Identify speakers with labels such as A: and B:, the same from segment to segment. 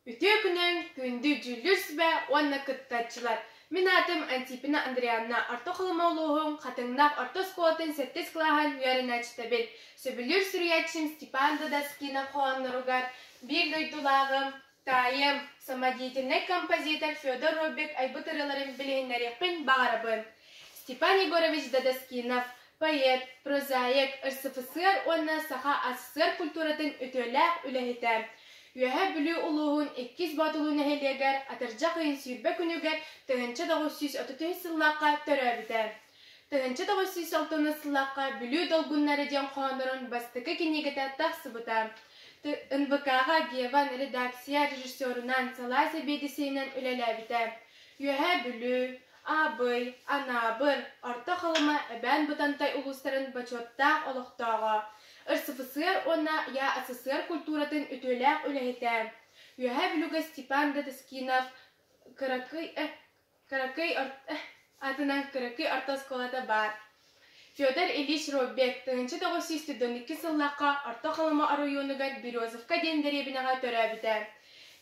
A: Үтүө күнүҥ, күндү Дьүүллүүс сүбэ уонна кыттааччылар! Мин аатым Антипина Андрианна, Орто Халыма улууһун Хатыҥнах орто оскуолатын сэттис кылааһын үөрэнээччитэбин. Сөбүлүүр суруйааччым Степан Додоскинов хоһоонноругар биир дойдулааҕым, таайым, самодеятельнай композитор Федор Роббик айбыт ырыаларын билиһиннэриэхпин баҕарабын. Степан Егорович Додоскинов Поэт, прозаик, СССР уонна Саха СССР культуратын үтүөлээх үлэһитэ, Үөһээ Бүлүү улууһун Иккис Боотулуу нэһилиэгэр Атырдьах ыйын сүүрбэ күнүгэр тыһыынча тоҕус сүүс отут үс сыллаахха төрөөбүтэ. Тыһыынча тоҕус сүүс алтынныс сыллаахха Бүлүү долгуннары диэн хоһооннорун бастакы кинигэтэ тахсыбыта. НВК-ҕа Геван редакция режиссерунан, салаа сэбиэдиссэйинэн үлэлээбитэ. Үөһээ Бүлүү, Аабый, Анаабыр, Орто Халыма, Эбээн-Бытантай улуустарын бочуоттаах олохтооҕо, РСФСР уонна ЯССР культуратын үтүөлээх үлэһитэ, үөһээ бүлүгэ Степан Додоскинов кыракый, кыракый, атынан кыракый орто оскуолата баар Федор Ильич Роббек тыһыынча тоҕус сүүс сүүрбэҕэ иккис сыллаахха Орто Халыма оройуонугар Березовка диэн дэриэбинэҕэ төрөөбүтэ.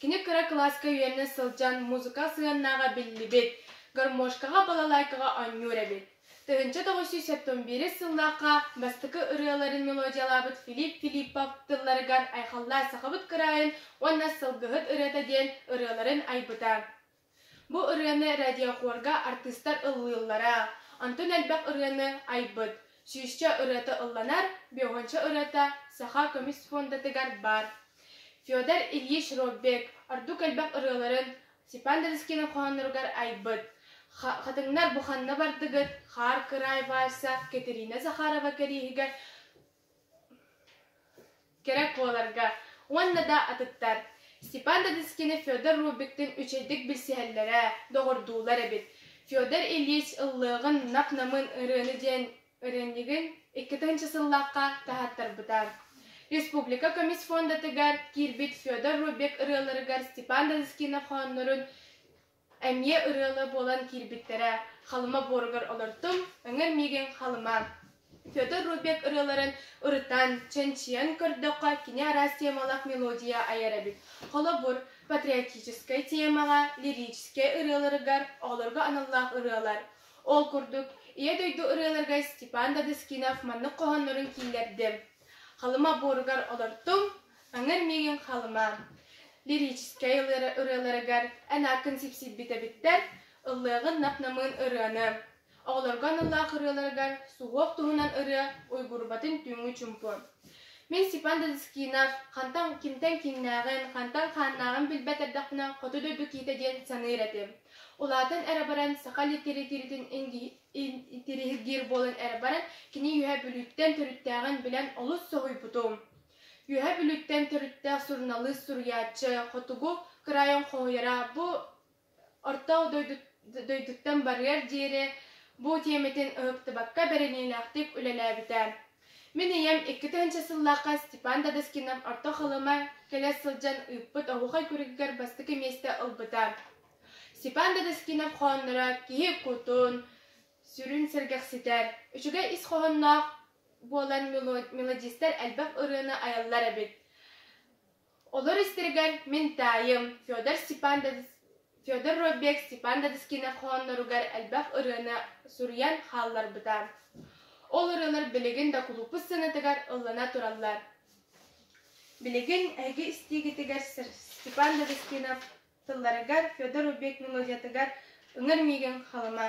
A: Кини кыра кылааска үөрэнэ сылдьан музыка сыһыаннааҕа биллибит, гармошкаҕа, балалайкаҕа оонньуур эбит. Тыһыынча тоҕус сүүс сэттион биирис сыллаахха бастакы ырыаларын мелодиялаабыт Филипп Филиппов тылларыгар айхаллаан сахабыт кыраайын уонна сылгыһыт ырыата диэн ырыаларын айбыта. Бу ырыаны радиохорга артыыстар ыллыыллара, онтон элбэх ырыаны айбыт, сүүсчэ ырыата ылланар, беуһунча ырыата Саха көмүс фондатыгар баар. Федор Ильич Роббек ордук элбэх ырыаларын Степан Донскийның хоһоонноругар айбыт. Хатыҥнар бу ханна бардыгыт, Хаар кыраай вальса Катерина Захарова кэриэһигэр кэрэ куоларга уонна да атыттар Степан Дадыскины Федор Рубиктыын үчэйдик билсиһэллэрэ, доҕордуулар эбит. Федор Ильич ыллыаҕын нап-намын ырыаны диэн ырыанньыгын икки тыһыынча сыллаахха таһаттарбыта. Республика көмүс фондатыгар киирбит Федор Рубик ырыаларыгар Степан Дадыскинов хооннорун Эмиэ ырыаны буолан киирбиттэрэ Халыма буоругар олортум, Өҥөр миигин Халыма, Федор Рудбек ырыаларын ырытан, чэнчийэн көрдөххө кини араас темалаах мелодия айар эбит. Холобур, патриотическай тиэмэҕэ, лирическэй ырыаларыгар оҕолорго аналлаах ырыалар. Ол курдук, Ийэ дойду ырыаларыгар Степан Додыскинов маннык хоһооннорун киллэрдим. Халыма буоругар олортум, Аҥар миигин Халыма лирическэй ырыаларыгар эн ааккын сипсийбит эбиттэр, ыллыаҕын нап-намыын ырыаны. Оҕолорго аналлаах ырыаларыгар суһуох туһунан ырыа уйгурбатын түүҥҥү чумпу. Мин Степан Дадыскинов хантан кимтэн киҥнээҕин, хантан хааннааҕын билбэт эрдэхпинэ хоту дойду киитэ диэн саныыр этим. Улаатан эрэ баран саха литэрэтиирэтин интириһиргиир буолан эрэ баран кини үөһэ Бүлүүттэн төрүттээҕин билэн олус соһуйбутум. Үөһэ Бүлүттэн төрүттээх суруналыыс суруйааччы Хотугу кыраайын хоһуйара бу орто дойдуттан барыар диэри бу тиэмэтин ыһыктыбакка бэриниилээхтик үлэлээбитэ. Мин ийэм икки тыһыынча сыллаахха Степан Додоскинов Орто Халыма кэлэ сылдьан ыыппыт оһуохай күрүгүгэр бастакы миэстэ ылбыта. Степан Додоскинов хоһоонноро киһи кутун, сүрүн сэргэхситэр, үчүгэй ис хоһоонноох буолан мелодистар элбэх ырыаны айаллар эбит. Олор истэригэр мин таайым Федор Степандович Федор Робек Степандович кинохоонноругар элбэх ырыаны суруйан хаалларбыта. Ол ырыалар билигин да кулууппут сыанатыгар ыллана тураллар. Билигин эһиги истиигитигэр Сир Степандович кино тылларыгар Федор Робек мелодиятыгар ыҥыр миигин халыма.